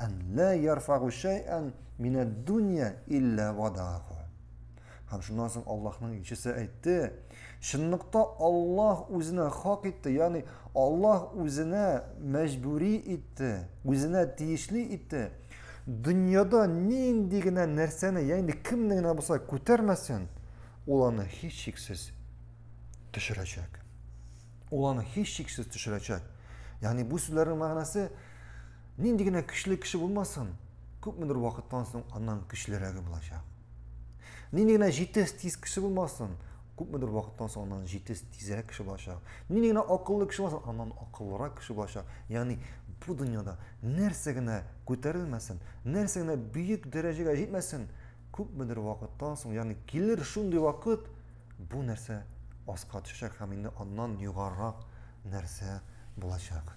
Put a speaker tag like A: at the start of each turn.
A: Ан ла ярфагу шәйән минәд дунья илля вадагу. Һәм шуннан соң Аллаһның илчесе әйтте, чынлыкта Аллаһ үзенә хак итте, ягъни Аллаһ үзенә мәҗбүри итте, үзенә тиешле итте. Дөньяда нинди генә нәрсәне, ягъни кемне генә булса күтәрмәсен, ул аны һичшиксез төшерәчәк. Ул аны һичшиксез төшерәчәк. Ягъни бу сүзләрнең мәгънәсе нинди генә көчле кеше булмасын, күпмедер вакыттан соң аннан көчлерәге булачак. Нинди генә җитез тиз кеше булмасын, күпмедер вакыттан соң аннан җитез тизрәк кеше булачак. Нинди генә акыллы кеше булмасын, аннан акыллырак кеше булачак. Ягъни бу дөньяда нәрсә генә күтәрелмәсен, нәрсә генә бөек дәрәҗәгә җитмәсен, күпмедер вакыттан соң, ягъни килер шундый вакыт, Бу нәрсә аска төшәчәк һәм инде аннан югарырак нәрсә булачак.